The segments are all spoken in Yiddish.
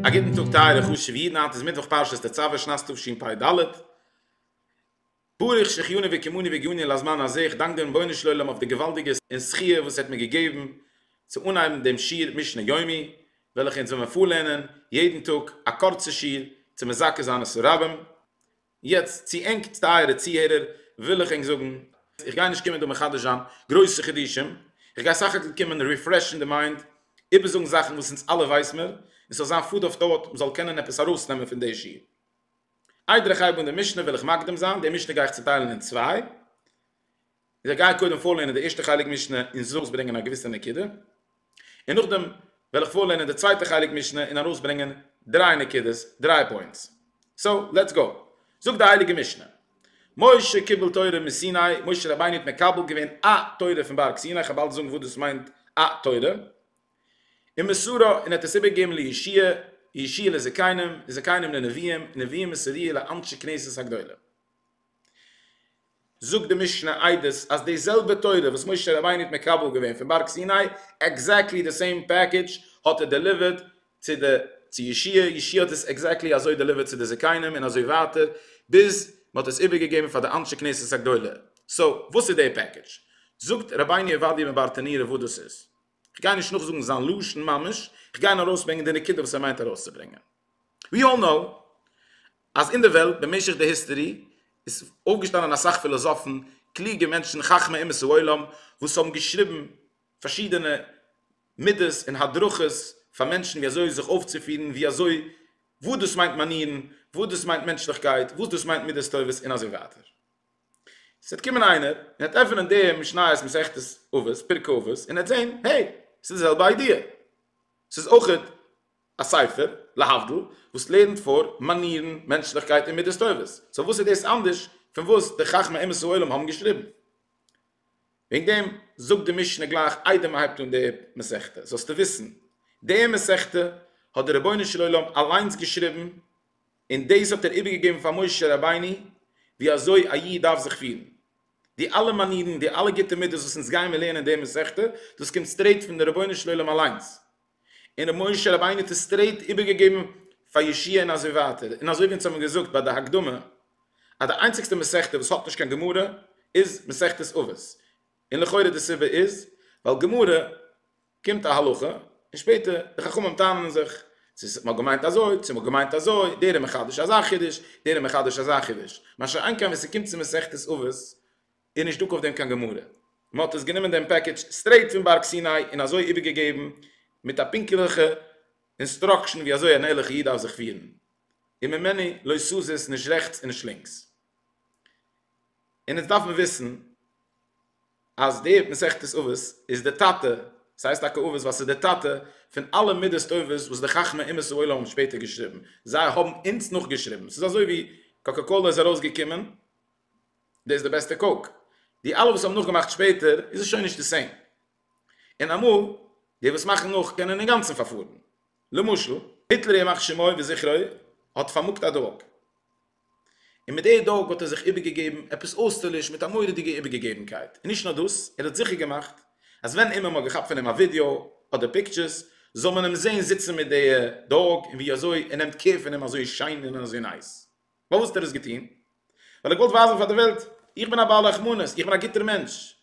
א גוטן טאג טייערע חשוב'ע אידן, היינט איז מיטוואך פרשת תצוה שנת תשפ ד, ברוך שהחייני וקיימני והגיעני לזמן הזה, איך דאנק דעם רבונו של עולם אויף די געוואלדיגע זכי' וואס ער האט מיר געגעבן צו אנהייבן דעם שיעור משנה יומי, וועלכע אונז וועלן פארלערנען יעדן טאג א קורצע שיעור צו מזכה זיין את הרבים, יעצט צו ענק טייערע צוהערער וויל איך ענק זאגן, איך גיי נישט קומען דא מחדש זיין גרויסע חידושים, איך גיי סך הכל קומען ריפרעשן די מיינד, איבערזאגן זאכן וואס אונז אלע ווייס מיר, און ס'זאל זיין פוד אויף טאוט, מ'זאל קענען עפעס ארויסנעמען פון די שיעור. איידער איך הייב אן די משנה וועל איך מקדים זיין, די משנה גיי איך צוטיילן אין צוויי, איך גיי קודם פארלערנען די ערשטע חלק משנה און זאגס ברענגען א געוויסע נקודה, און נאכדעם וועל איך פארלערנען די צווייטע חלק משנה און ארויסברענגען דריי נקודות, דריי פוינטס. סאו, לעטס גאו. זאגט די הייליגע משנה, משה קיבל תורה מסיני, משה רבינו האט מקבל געווען א תורה פון בארג סיני, איך האב באלד צו זאגן וואס דאס מיינט א תורה, און מסורה, און ער האט עס איבערגעגעבן לישיע, ישיע לזקנים, און זקנים לנביאים, און נביאים מסורי' לאנשי כנסת הגדולה. זאגט די משנה עדות אז די זעלבע תורה וואס משה רבינו האט מקבל געווען פון בארג סיני, עקזעקטלי די סעים פעקעדזש האט ער דעליווערט צו די צו ישיע, ישיע האט עס עקזעקטלי אזוי דעליווערט צו די זקנים, און אזוי ווייטער, ביז מען האט עס איבערגעגעבן פאר די אנשי כנסת הגדולה. סאו, וואס איז די פעקעדזש? זאגט רבינו עובדיה מברטנורא וואס דאס איז. כ'גיי נישט נאכזאגן זיין לשון ממש, כ'גיי נאר ארויסברענגען די נקודה וואס ער מיינט ארויסצוברענגען. We all know אז אין די וועלט במשך די היסטערי איז אויפגעשטאנען אסאך פילאזאפן, קלוגע מענטשן, חכמי אומות העולם, וואס האבן געשריבן פארשידענע מידות און הדרכות פאר מענטשן ווי אזוי זיך אויפצופירן, ווי אזוי, וואס דאס מיינט מאנירן, וואס דאס מיינט מענטשליכקייט, וואס דאס מיינט מידות טובות און אזוי ווייטער. עס וועט קומען איינער און ער וועט עפענען די משניות מסכת אבות, פרק אבות, און ער וועט זען, העי, עס איז די זעלבע איידיע, עס איז אויך א ספר, להבדיל, וואס לערנט פאר מאנירן, מענטשליכקייט און מידות טובות, סאו וואס איז דאס אנדערש פון וואס די חכמי אומות העולם האבן געשריבן? וועגן דעם זאגט די משנה גלייך איידער מען הייבט אן די מסכת, זאלסטו וויסן, די מסכת האט דער רבונו של עולם אליינס געשריבן, און דאס האט ער איבערגעגעבן פאר משה רבינו ווי אזוי א איד דארף זיך פירן. די אלע מאנירן, די אלע גוטע מידות וואס אונז גייען מיר לערנען אין די מסכתא, דאס קומט סטרעיט פון די רבונו של עולם אליינס. און ר' משה רבינו האט עס סטרעיט איבערגעגעבן פאר ישעי' און אזוי ווייטער. און אזוי ווי אונז האבן געזאגט ביי די הקדמה אז די איינציגסטע מסכתא וואס האט נישט קיין גמרא איז מסכת אבות. און לכאורה די סיבה איז ווייל גמרא. קומט א הלכה, און שפעטער די חכמים טענה'ן זיך, צו ס'האט נאר געמיינט אזוי, צו מ'האט געמיינט אזוי, דער איז מחדש אזא חידוש, דער איז מחדש אזא חידוש. מה שאין כן ווען ס'קומט צו מסכת אבות, איז נישט דא אויף דעם קיין גמרא. מ'האט עס גענומען דעם פעקעדזש סטרעיט פון בארג סיני און אזוי איבערגעגעבן מיט א פונקטליכע אינסטראקשן ווי אזוי אן ערליכע איד דארף זיך פירן, און ממני לא סזיז, נישט רעכטס און נישט לינקס. און אונז דארף מען וויסן. אז דער מסכת אבות איז דער טאטע, ס'הייסט טאקע אבות ווייל ס'איז דער טאטע פון אלע מידות טובות וואס די חכמי אומות העולם האבן שפעטער געשריבן, זיי האבן אונז נאכגעשריבן, ס'איז אזוי ווי קאקא קאלא איז ארויסגעקומען, דאס איז די בעסטע קאוק, די אלע וואס האבן נאכגעמאכט שפעטער איז עס שוין נישט די סעים, און אמאל די וואס מאכן נאך קענען אינגאנצן פארפארן, למשל היטלער ימח שמו וזכרו האט פארמאגט א דאג, און מיט דער דאג האט ער זיך איבערגעגעבן עפעס אויסטערליש מיט א מורא'דיגע איבערגעגעבנקייט, און נישט נאר דאס, ער האט זיכער געמאכט אז ווען אימער מ'האט געכאפט פון אים א ווידעא אדער פיקטשערס זאל מען אים זען זיצן מיט דער דאג און ווי אזוי ער נעמט קער פון אים אזוי שיין און אזוי נייס. פארוואס האט ער דאס געטון? ווייל ער געוואלט ווייזן פאר דער וועלט, איך בין א בעל רחמנות, איך בין א גוטער מענטש.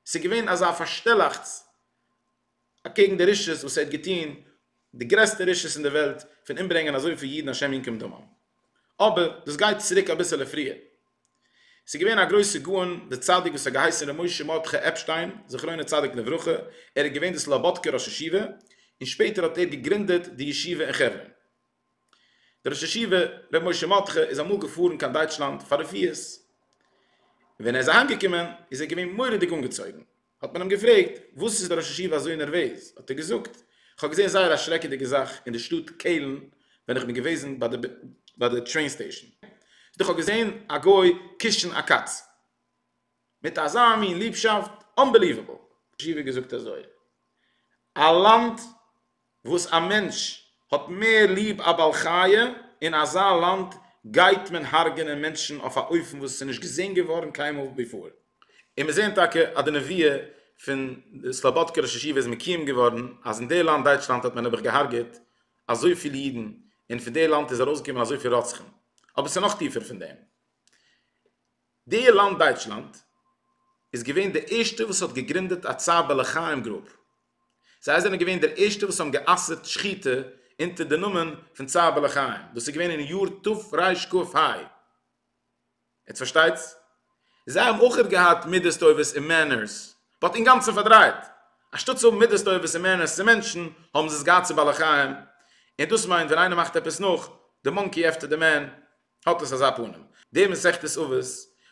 ס'איז געווען אזא פארשטעלאכטס. אקעגן די רשעות וואס ער האט געטוהן, די גרעסטע רשעות אין די וועלט פון אומברענגען אזויפיל אידן השם ינקום דמם. אבער דאס גייט צוריק אביסעלע פריער. ס'איז געווען א גרויסע גאון די צדיק וואס האט געהייסן ר' משה מרדכי עפשטיין זכרונו צדיק לברכה, ער איז געווען די סלאבאדקער ראש ישיבה, און שפעטער האט ער געגרינדעט די ישיבה אין חברון. דער ראש ישיבה ר' משה מרדכי איז אמאל געפארן קיין דייטשלאנד פאר רפואות, און ווען ער איז אהיימגעקומען איז ער געווען מורא'דיג אנגעצויגן, האט מען אים געפרעגט, וואס איז דער ראש ישיבה אזוי נערוועז? האט ער געזאגט, איך האב געזען זייער א שרעקעדיגע זאך אין די שטאט קעלן ווען איך בין געוועזן ביי די טרעין סטעישן, איך האב געזען א גוי קושן א קאץ מיט אזא מין ליבשאפט, אנבעליוועבל! ראש ישיבה האט געזאגט אזוי, א לאנד וואס א מענטש האט מער ליב א בעל חי', אין אזא לאנד גייט מען הרג'ענען מענטשן אויף א אופן וואס איז נישט געזען געווארן קיינמאל ביפאר. און מיר זעען טאקע אז די נביאה פון די סלאבאדקע ראש ישיבה איז מקויים געווארן, אז אין די לאנד דייטשלאנד האט מען נעבעך געהארגעט אזויפיל אידן, און פון די לאנד איז ארויסגעקומען אזויפיל רוצחים. אבער ס'איז נאך טיפער פון דעם. די לאנד דייטשלאנד איז געווען די ערשטע וואס האט געגרינדעט א צער בעלי חיים גרופ, זיי זענען געווען די ערשטע וואס האבן גע'אסר'ט שחיטה אונטער די נאמען פון צער בעלי חיים, דאס איז געווען אין יאר תרש ק פ ה. יעצט פארשטייטס? זיי האבן אויך געהאט מידות טובות און מענערס, באט אינגאנצן פארדרייט, אנשטאט צו האבן מידות טובות און מענערס צו מענטשן, האבן זיי עס געהאט צו בעלי חיים, און דאס מיינט ווען איינער מאכט עפעס נאך די מאנקי עפטער די מען, האט עס אזא פנים. די מסכת אבות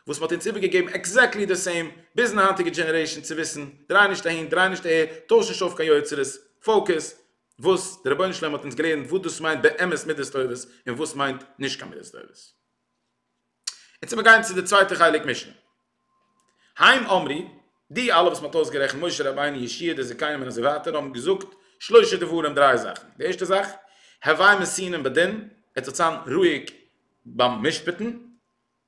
וואס מען האט אונז איבערגעגעבן עקזעקטלי די סעים ביזן היינטיגע דזשענערעישן צו וויסן, דריי נישט אהין דריי נישט אהער, טויש נישט אויף קיין יוצרות, פאוקעס, וואס דער רבונו של עולם האט אונז געלערנט וואס דאס מיינט באמת מידות טובות און וואס מיינט נישט קיין מידות טובות. און צו מיר גייען צו די צווייטע חלק משנה. היים אמרי, די אלע וואס מען האט אויסגערעכנט, משה רבינו, ישעי', די זכיינים און אזוי ווייטער, האבן געזאגט שלושה דברים, דריי זאכן, די ערשטע זאך, הווי מסינן בדין, עטס זאלטס זיין רואיג ביים משפט'ן,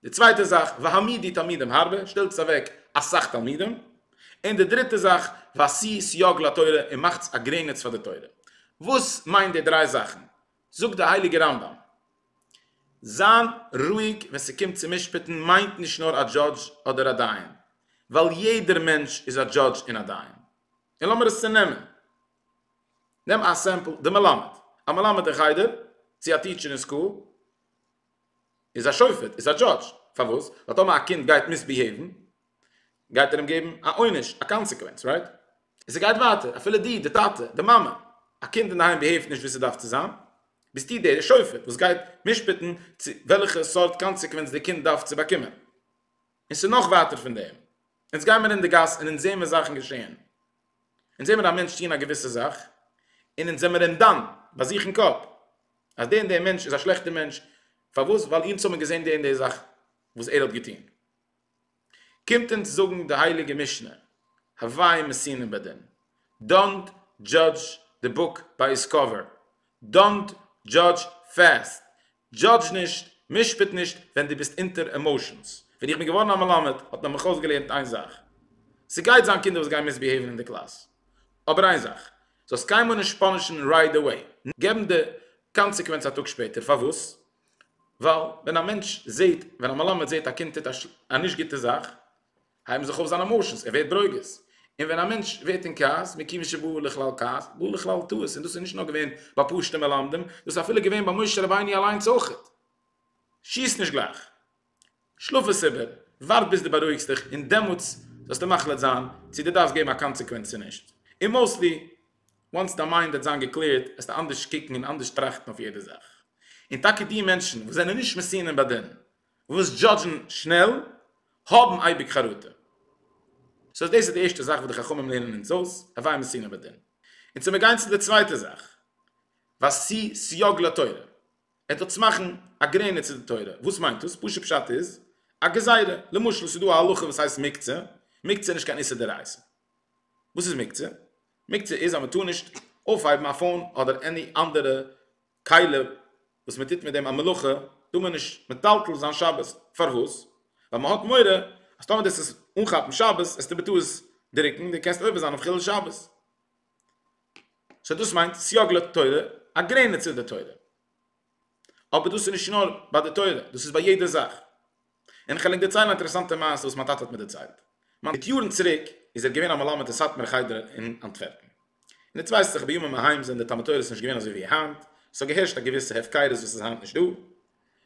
די צווייטע זאך, והעמידי תלמידים הרבה, שטעלטס אוועק אסאך תלמידים, און די דריטע זאך, ועשי סייג לתורה, און מאכטס א גרעניץ פאר די תורה. וואס מיינט די דריי זאכן? זאגט די הייליגע רמב ם. זיין רואיג ווען ס'קומט צו משפט'ן מיינט נישט נאר א דזשאדזש אדער א דיין, ווייל יעדער מענטש איז א דזשאדזש און א דיין. און לאמיר עס צונעמען. נעם א סעמפל די מלמד. א מלמד אין חדר, צו א טיטשער אין סקול, איז א שופט, איז א דזשאדזש. פארוואס? ווייל טאמער א קינד גייט מיסביהעיוון, גייט ער אים געבן א עונש, א קאנסעקווענץ, רייט? און ס'גייט ווייטער, אפילו דו, די טאטע, די מאמע, א קינד אינדערהיים ביהעיווט נישט ווי ס'דארף צו זיין, ביסטו דער שופט וואס גייט משפט'ן צו וועלכע סארט קאנסעקווענץ די קינד דארף צו באקומען. און ס'איז נאך ווייטער פון דעם. אונז גיי מיר אין די גאס און אונז זעמיר זאכן געשען. אונז זעמיר א מענטש טון א געוויסע זאך, און אונז זעמיר אים דן, ביי זיך אין קאפ, אז דער און דער מענטש איז א שלעכטער מענטש, פארוואס? ווייל אונז האבן געזען די און די זאך וואס ער האט געטון. קומט אונז זאגן די הייליגע משנה הווי מסינא בדין, דאנט דזשאדזש די בוק ביי איטס קאווער, דאנט דזשאדזש פעסט, דזשאדזש נישט, משפט נישט ווען דו ביסט אונטער עמאושענס, ווען איך בין געווארן א מלמד האט מען מיך אויסגעלערנט איין זאך, ס'גייט זיין קינדער וואס גייען מיסביהעיווען אין די קלאס, אבער איין זאך, זאלסט קיינמאל נישט פאנישן רייט עוועי, געבן די קאנסעקווענץ א טאג שפעטער, פארוואס? ווייל ווען א מענטש זעט, ווען א מלמד זעט א קינד טוט א נישט גוטע זאך, הייבן זיך אויף זיינע עמאושענס, ער ווערט ברוגז. און ווען א מענטש ווערט אין כעס, מכיוון שבא לכלל כעס, בא לכלל טעות, און דאס איז נישט נאר געווען ביי פשוטע מלמדים, דאס איז אפילו געווען ביי משה רבינו אליינס אויך. שיס נישט גלייך. שלאף עס איבער, ווארט ביז דו בארואיגסט דיך און דעמאלטס זאלסטו מחליט זיין צו דו דארפסט געבן א קאנסעקווענץ צו נישט, און מאוסטלי וואנס דיין מיינד וועט זיין געקלערט וועסטו אנדערש קוקן און אנדערש טראכטן אויף יעדע זאך, און טאקע די מענטשן וואס זענען נישט מסינים בדין און וואס דזשאדזשן שנעל האבן אייביג חרטה. סאו דאס איז די ערשטע זאך וואס די חכמים לערנען אונז אויס, הווי מסינים בדין. און צו מיר גיין צו די צווייטע זאך, ועשי סייג לתורה, ער טוט עס מאכן א גרעניץ צו די תורה, וואס מיינט דאס? פשוט פשט איז א גזירה, למשל ס'איז דא א הלכה וואס הייסט מקצה, מקצה איז נישט קיין איסור דאורייתא, וואס איז מקצה? מקצה איז אז מען טאר נישט אויפהייבן א פאון אדער עני אנדערע כלי וואס מען טוט מיט דעם א מלאכה, טאר מען נישט מטלטל זיין שבת, פארוואס? ווייל מען האט מורא אז טאמער דו וועסט עס אנכאפן שבת וועסטו בטעות דרוקן און דו קענסט עובר זיין אויף חילול שבת. סאו דאס מיינט סייג לתורה, א גרעניץ איז די תורה. אבער דאס איז נישט נאר ביי די תורה, דאס איז ביי יעדע זאך. און כ'על ענק דערציילן א אינטערעסאנטע מעשה וואס מיין טאטע האט מיר דערציילט. מיט יארן צוריק איז ער געווען א מלמד אין סאטמאר חדר אין אנטווערפן. און איצט ווייס איך בימים ההם זענען די תלמוד תורה'ס נישט געווען אזוי ווי היינט, ס'האט געהערשט א געוויסע הפקרות וואס איז היינט נישט דא.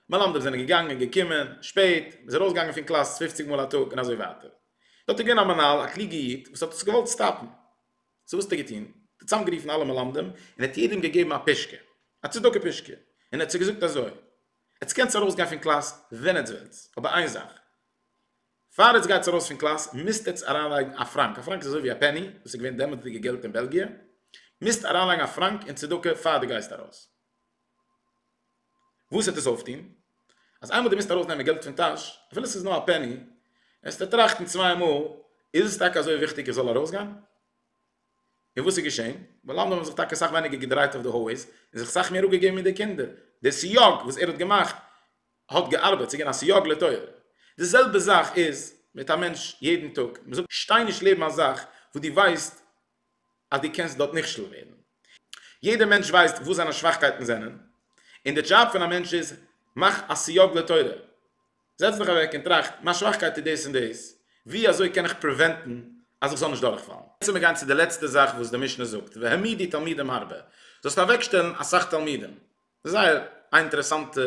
מלמדים זענען געגאנגען, געקומען, שפעט, מ'איז ארויסגעגאנגען פון קלאס פופציג מאל א טאג און אזוי ווייטער. דארט איז געווען א מנהל, א קלוגע איד, וואס האט עס געוואלט סטאפן. סאו וואס האט ער געטון? ער האט צוזאם גערופן אלע מלמדים און ער האט יעדעם געגעבן א פישקע, א צדקה פישקע, און ער האט זיי געזאגט אזוי, עטס קענטס ארויס גיין פון קלאס ווען עטס ווילטס, אבער איין זאך, פאר עטס גייטס ארויס פון קלאס מוזט עטס אריין לייגן א פראנק, א פראנק איז אזוי ווי א פעני, דאס איז געווען דעמאלטסדיגע געלט אין בעלגיע, מוזט אריין לייגן א פראנק אין צדקה פאר דו גייסט ארויס. וואס העט עס אויפטוהן? אז איינמאל די מוזט ארויס נעמען געלט פון טאש, אפילו ס'איז נאר א פעני, וועסטו טראכטן צוויי מאל, איז עס טאקע אזוי וויכטיג איך זאל ארויסגיין? און וואס איז געשעהן? מלמדים האבן זיך טאקע סאך ווייניגער געדרייט אויף די הויז, און זיך סאך מער אפגעגעבן מיט די קינדער. דער סיוג וואס ער האט געמאכט האט געארבעט, ס'איז געווען א סיוג לטובה. די זעלבע זאך איז מיט א מענטש יעדן טאג, מ'זאגט שטיי נישט לעבן א זאך וואס דו ווייסט אז דו קענסט דארט נכשל ווערן. יעדער מענטש ווייסט וואס זיינע שוואכקייטן זענען, און די דזשאב פון א מענטש איז, מאך א סיוג לתורה. זעץ דיך אוועק און טראכט, מיין שוואכקייט איז דאס און דאס, ווי אזוי קען איך פריווענטן אז איך זאל נישט דורכפאלן? יעצט לאמיר גיין צו די לעצטע זאך וואס די משנה זאגט, והעמידי תלמידים הרבה, זאלסט אוועקשטעלן אסאך תלמידים. דאס איז זייער א אינטערעסאנטע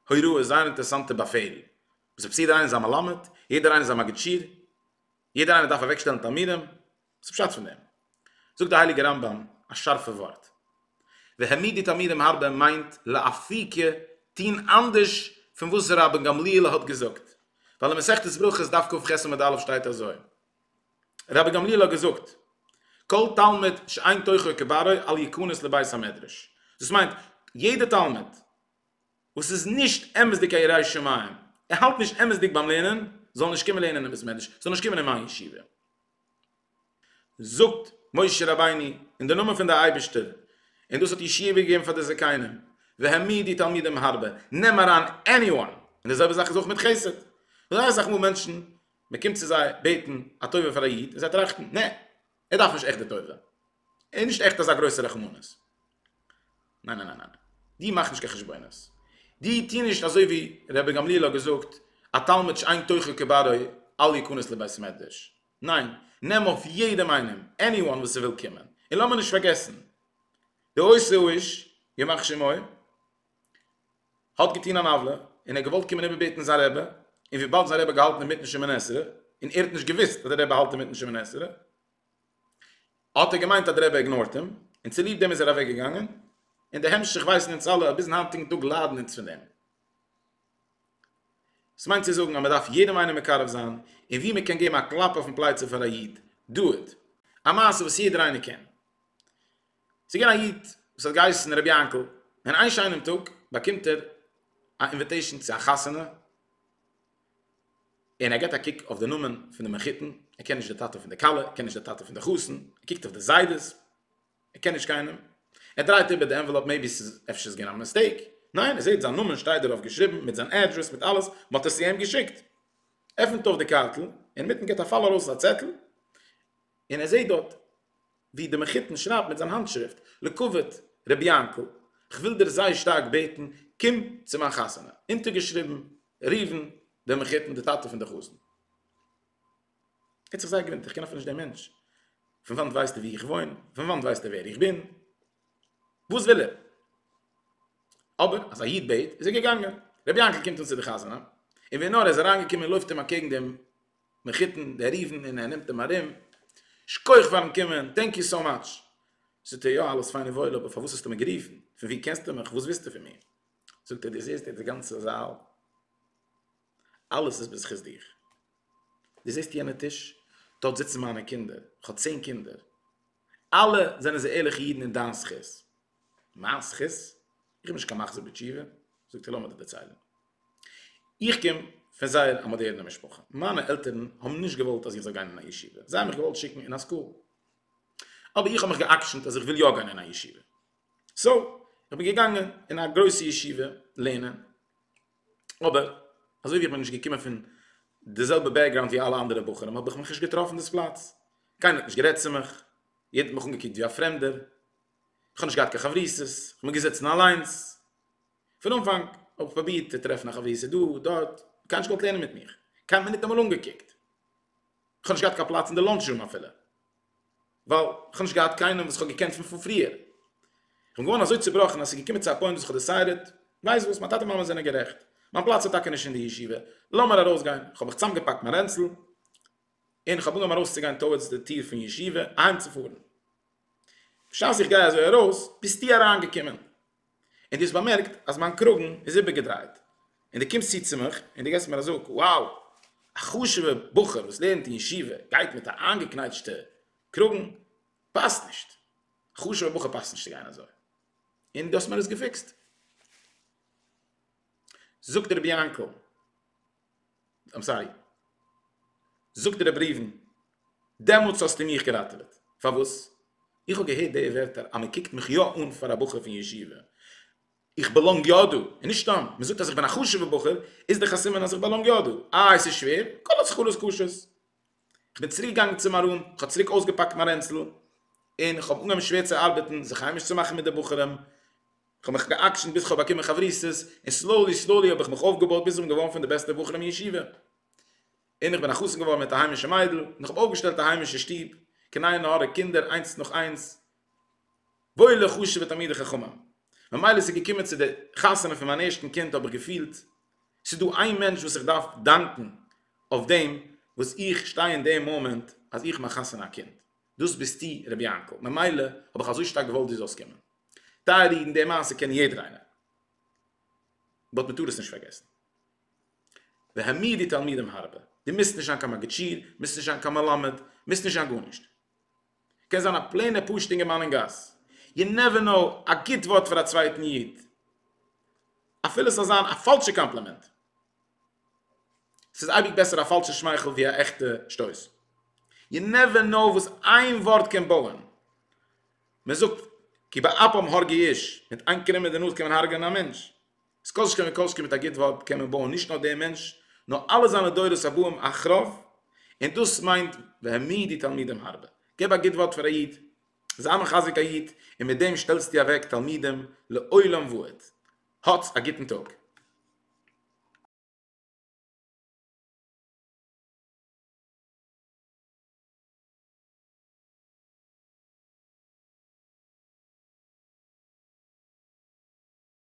הוראה, זייער אינטערעסאנטע באפעל. וואס איז פאסירט? יעדער איינער איז א מלמד, יעדער איינער איז א מגיד שיעור, יעדער איינער דארף אוועקשטעלן תלמידים. וואס איז פשט פון דעם? זאגט די הייליגע רמב ם א שארפע ווארט, והעמיד די תלמידים הרבה מיינט לאפי ק טוהן אנדערש פון וואס ר' אבן גמליאל האט געזאגט, ווייל אין מסכת ברכות דף קכ עמוד א' שטייט אזוי, ר' אבן גמליאל האט געזאגט, כל תלמיד שאין תוכו כברו אל יכנס לבית המדרש, דאס מיינט, יעדע תלמיד וואס איז נישט אמת'דיג א ירא שמים, ער האלט נישט אמת'דיג ביים לערנען, זאל נישט קומען לערנען אין בית מדרש, זאל נישט קומען אין מיין ישיבה. זאגט משה רבינו אין די נאמען פון די אייבישטער און דאס האט ישועה געגעבן פאר די זקנים והעמיד די תלמידים הרבה נעם אריין עני וואן און די זעלבע זאך איז אויך מיט חסד זייער אסאך מאל מענטשן מען קומט צו זיי בעטן א טובה פאר א איד און זיי טראכטן נע ער דארף נישט עכט די טובה ער איז נישט עכט אזא גרויסע רחמנות. ניין ניין ניין די מאך נישט קיין חשבונות די טוה נישט אזוי ווי רבי גמליאל האט געזאגט א תלמיד שאין תוכו כברו אל יכנס לבית מדרש ניין נעם אויף יעדעם איינעם עני וואן וואס ס'וויל קומען און לאמיר נישט פארגעסן די עושה איש ימח שמו האט געטון אן עוולה און ער האט געוואלט קומען איבערבעטן זיין רבי און וויבאלד זיין רבי האט געהאלטן אינמיטן שמונה עשרה און ער האט נישט געוואוסט אז דער רבי האלט אינמיטן שמונה עשרה האט ער געמיינט אז די רבי איגנארט אים, און צוליב דעם איז ער אוועק געגאנגען, און די המשך ווייסן אונז אלע, אז ביזן היינטיגן טאג ליידן אונז פון דעם. דאס מיינט צו זאגן אז מען דארף יעדעם איינעם מקרב זיין, און ווי מען קען געבן א קלאפ אויפן פלייצע פאר א איד, דא איט, א מעשה וואס יעדער איינער קען. ס'איז געווען א איד וואס האט געהייסן רבי יענקל, און איין שיינעם טאג באקומט ער א אינוויטעישן צו א חתונה, און ער געט א קוק אויף די נאמען פון די מחותן, ער קען נישט די טאטע פון די כלה, ער קען נישט די טאטע פון די חתן, ער קוקט אויף די זיידעס, ער קען נישט קיינעם, ער דרייט איבער די ענוועלאפ מעיבי ס'איז אפשר געווען א מיסטעיק, ניין ער זעט זיין נאמען שטייט דערויף געשריבן מיט זיין אדרעס מיט אלעס, מען האט עס צו אים געשיקט, עפנט אויף די קארטל, אינמיטן געט א פאל ארויס א צעטל, און ער זעט דארט. ווי דער מחותן שרייבט מיט זיין האנטשריפט, לכבוד רבי יענקל, כ'וויל דיר זייער שטארק בעטן, קום צו מיין חתונה. אונטערגעשריבן, ראובן, דער מחותן, דער טאטע פון דער חזן. ער האט זיך זייער געוואונדערט, איך קען אפילו נישט דעם מענטש. פון וואנט ווייסט ער וואו איך וואוין? פון וואנט ווייסט ער ווער איך בין? וואס וויל ער? אבער אז א איד בעט, איז ער געגאנגען. רבי יענקל קומט אן צו דער חתונה, און ווי נאר ער איז אריינגעקומען, לויפט אים אקעגן דער מחותן דער ריבן און ער נעמט אים ארום, שכוח פארן קומען, טענק יו סאו מאטש. זאגט ער יא אלעס פיין און וואויל אבער פארוואס האסטו מיר גערופן? פון ווי קענסטו מיך? וואס ווילסטו פון מיר? זאגט ער דו זעסט דא די גאנצע זאל? אלעס איז בזכות דיר. דו זעסט יענע טיש? דארט זיצן מיינע קינדער, איך האב צען קינדער, אלע זענען זיי ערליכע אידן אין דיין זכות. מיין זכות? איך בין נישט קיין מחזיר בתשובה. זאגט ער לאמיר דיר דערציילן. איך קום פון זייער א מאדערנע משפחה, מיינע עלטערן האבן נישט געוואלט אז איך זאל גיין אין א ישיבה, זיי האבן מיך געוואלט שיקן אין א סקול, אבער איך האב מיך גע'עקשנ'ט אז איך וויל יא גיין אין א ישיבה, סאו איך בין געגאנגען אין א גרויסע ישיבה לערנען, אבער אזוי ווי איך בין נישט געקומען פון די זעלבע בעקגראונד ווי אלע אנדערע בחורים האב איך מיך נישט געטראפן דאס פלאץ, קיינער האט נישט גערעדט צו מיך, יעדער האט מיך אנגעקוקט ווי א פרעמדער, איך האב נישט געהאט קיין חברותות, איך בין געזעצן אליינס. פון אנפאנג האב איך פרובירט צו טרעפן א חביר ס'איז דא דארט, קיינער האט נישט געוואלט לערנען מיט מיך, קיינער האט מיר ניטאמאל אנגעקוקט, איך האב נישט געהאט קיין פלאץ אין די לאנטש רום אפילו, ווייל איך האב נישט געהאט קיינעם וואס איך האב געקענט פון פריער, איך בין געווארן אזוי צובראכן אז ס'איז געקומען צו א פוינט וואס איך האב דעסיידעט, ווייסט וואס, מיין טאטע מאמע זענען גערעכט, מיין פלאץ איז טאקע נישט אין די ישיבה, לאמיר ארויסגיין, איך האב מיך צוזאמגעפאקט מיין רענצל, און איך האב אנגעהויבן ארויסצוגיין טאוערדס די טיר פון ישיבה אהיימצופארן, בשעת איך גיי אזוי ארויס, ביסטו אריינגעקומען. און דו האסט באמערקט אז מיין קראגן איז איבערגעדרייט, און דו קומסט צו צו מיך און דו געבסט מיר א זאג, wow, א חשוב'ער בחור וואס לערנט אין ישיבה גייט מיט א איינגעקנייטשטע קראגן, פאסט נישט, א חשוב'ער בחור פאסט נישט צו גיין אזוי, און דו האסט מיר עס געפיקסט. זאגט רבי יענקל. אמסארי. זאגט רבי ראובן, דעמאלטס האסטו מיך געראטעוועט. פארוואס? איך האב געהערט די ווערטער אז מען קוקט מיך יא אן פאר א בחור פון ישיבה. איך באלאנג יא דא. און נישט סתם, מען זאגט אז איך בין א חשוב'ער בחור, איז דאך א סימן אז איך באלאנג יא דא. איי, ס'איז שווער? כל עוד חלות קשות. כ'בין צוריק געגאנגען צום ארון, כ'האב צוריק אויסגעפאקט מיין רענצל, און כ'האב אנגעהויבן שווער צו ארבעטן, זיך היימיש צו מאכן מיט די בחורים, כ'האב מיך גע'עקשנ'ט ביז כ'האב באקומען חברותות, און סלאולי סלאולי האב איך מיך אויפגעבויט ביז כ'בין געווארן פון די בעסטע בחורים אין ישיבה, און כ'בין א חתן געווארן מיט א היימישע מיידל, און כ'האב אויפגעשטעלט א היימישע שטוב, קנאי נהורא קינדער איינס נאך איינס, וואוילע חשוב'ע תלמידי חכמים. ממילא ס'איז געקומען צו די חתונה פון מיין ערשטן קינד האב איך געפילט, ס'איז דא איין מענטש וואס איך דארף דאנקן אויף דעם וואס איך שטיי אין די מאמענט אז איך מאך חתונה א קינד, דאס ביסטו ר' יענקל, ממילא האב איך אזוי שטארק געוואלט דיר זאלסט קומען. טייערע אידן די מעשה קען יעדער איינער, באט מען טאר עס נישט פארגעסן. והעמיר די תלמידים הרבה, דו מוזט נישט זיין קיין מגיד שיעור, מוזט נישט זיין קיין מלמד, מוזט נישט זיין גארנישט. כ'קען זיין א פלעינע פשוט אינגערמאן אין גאס, יו נעווער נאו, א גוט ווארט פאר א צווייטן איד, אפילו ס'זאל זיין א פאלשע קאמפלימענט, ס'איז אייביג בעסער א פאלשע שמייכל ווי א עכטע שטויס, יו נעווער נאו וואס איין ווארט קען בויען, מ'זאגט כי באפם הרגי איש, מיט איין קרום אין די נאז קען מען הרג'נען א מענטש. אז כל שכן וכל שכן מיט א גוט ווארט קען מען בויען נישט נאר דעם מענטש, נאר אלע זיינע דורות הבאים אחריו, און דאס מיינט והעמידי תלמידים הרבה. געב א גוט ווארט פאר א איד, זיי מחזק א איד, און מיט דעם שטעלסטו אוועק תלמידים לעולם ועד. האטס א גוטן טאג.